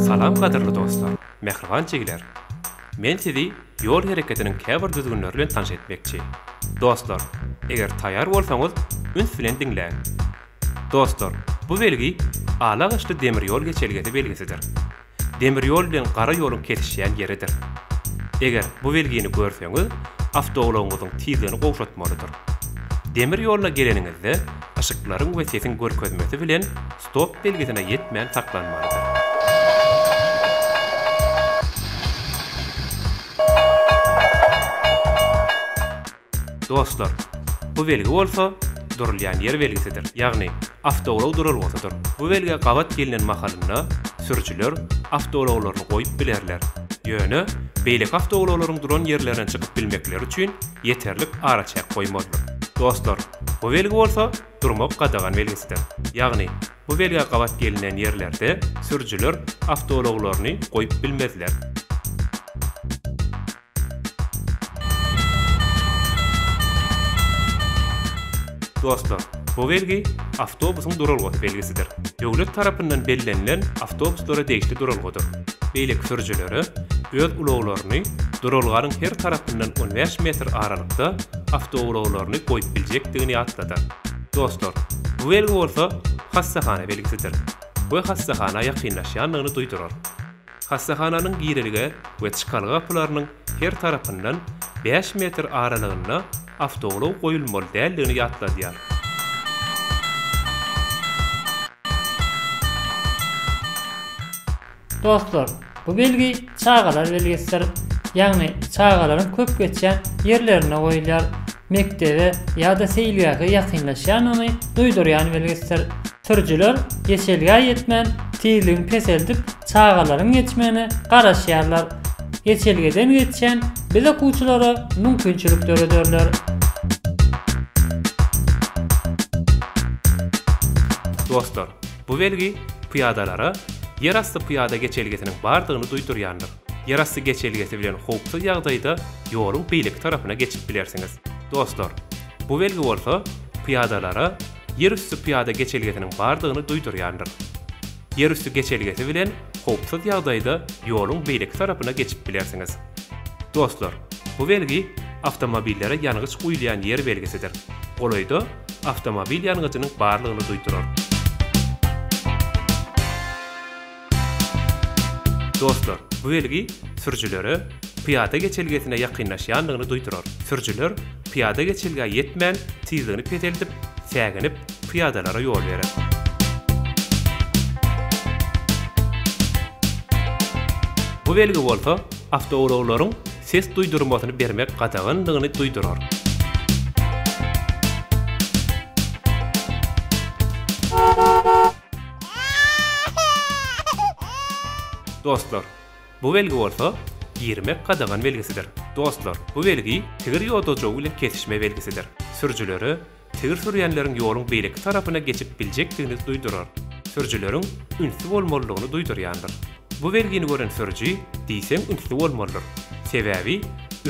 Salam gadyrly dostlar, mähriban jigiler! Men sizi ýol hereketiniň käbir düzgünleri bilen tanyş etmekçi. Dostlar, eger taýýar bolsaňyz, üns bilen diňläň. Dostlar, bu belgi ala gyşly demir ýol geçelgesi belgisidir. Demir ýol bilen gara ýoluň kesişýän ýeridir. Eger bu belgini görseňiz, awtoulagyňyzyň tizligini gowşatmalydyr. Demir ýola geleniňizde, yşyklaryň we sesiň görkezmesi bilen Stop belgisine ýetmän saklanmalydyr. Dostlar, bu belgi bolsa durulýan ýer belgisidir, ýagny awtoulag duralgasydyr. Bu belgä gabat gelnen mahalynda sürüjiler awtoulaglaryny goýup bilerler, ýöne beýleki awtoulaglaryň duran ýerlerine çykyp bilmekleri üçin ýeterlik araçäk goýmalydyr. Dostlar, bu belgi bolsa durmak gadagan belgisidir. Ýagny, bu belgä gabat gelinen ýerlerde sürüjiler awtoulaglaryny goýup bilmezler. Dostlar, bu belgi awtobusyň duralgasy belgisidir. Döwlet tarapyndan bellenilen awtobuslara degişli duralgadyr. Beýleki sürüjilere öz ulaglaryny duralganyň her tarapyndan on bäş metr aralykda awtoulaglaryny goýup biljekdigini ýatladar. Dostlar, bu belgi bolsa hassahana belgisidir we hassahana ýakynlaşýandygyny duýdurar. Hassahananyň girelge we çykalga gapylarynyň her tarapyndan bäş metr aralygynda awtoulag goýulmaly däldigini ýatladýar. Dostlar, bu belgi çagalar belgisidir. Ýagny çagalaryň köp geçýän ýerlerinde goýulýar. Mekdebe ýa-da seýilgähe ýakynlaşýanyny duýdurýan belgisidir. Sürüjiler geçelgä ýetmän tizligini peseldip çagalaryň geçmegine garaşýarlar. Geçelgeden geçýän biz okuwçylara mümkinçilik dörederler. Dostlar, Bu belgi pyýadalara ýerasty pyýada geçelgesiniň bardygyny duýdurýandyr. Ýerasty geçelgesi bilen howpsuz ýagdaýda ýoluň beýleki tarapyna geçip bilersiňiz. Dostlar, bu belgi bolsa pyýadalara ýerüsti pyýada geçelgesiniň bardygyny duýdurýandyr. Ýerüsti geçelgesi bilen howpsuz ýagdaýda ýoluň beýleki tarapyna geçip bilersiňiz. Dostlar, bu belgi awtomobillere ýangyç guýulýan ýer belgisidir. Golaýda awtomobil ýangyjynyň barlygyny duýdurar. Dostlar, bu belgi sürüjilere pyýada geçelgesine ýakynlaşýandygyny duýdurar. Sürüjiler pyýada geçelgä ýetmän, tizligini peseldip, säginip, pyýadalara ýol berer. Bu belgi bolsa, awtoulaglaryň ses duýdurmasyny bermek gadagandygyny duýdurar. Dostlar, bu belgi bolsa, girmek gadagan belgisidir. Dostlar, bu belgi tigir ýodajowy bilen kesişme belgisidir. Sürüjilere Tigir sürýänleriň ýoluň beýleki tarapyna geçip biljekdigini duýdurar, sürüjileriň ünsli bolmalydygyny duýdurýandyr. Bu belgini gören sürüji diýseň ünsli bolmalydyr, sebäbi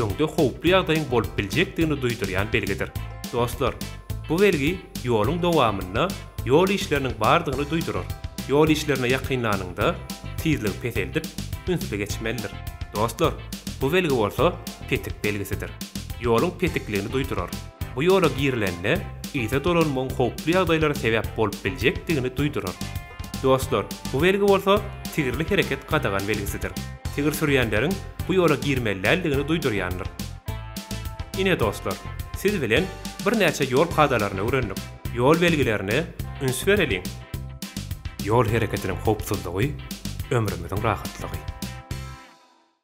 öňde howply ýagdaýyň bolup biljekdigini duýdurýan belgidir. Dostlar, bu belgi ýoluň dowamynda ýol işleriniň bardygyny duýdurar. Ýol işlerine ýakynlanyňda tizligi peseldip, ünsli geçmelidir. Dostlar, bu belgi bolsa petik belgisidir. Ýoluň petikligini duýdurar. Bu ýola girilende yza dolanmagyň howply ýagdaýlara sebäp bolup biljekdigini duýdurar. Dostlar, bu belgi bolsa tigirli hereket gadagan belgisidir. Tigir sürýänleriň bu ýola girmelidäldigini duýdurýandyr. Ine dostlar, siz bilen birnäçe ýol kadalaryny öwrendik. Ýol belgilerine üns bereliň! Ýol hereketiniň howpsuzlygy, ömrümiziň rahatlygy!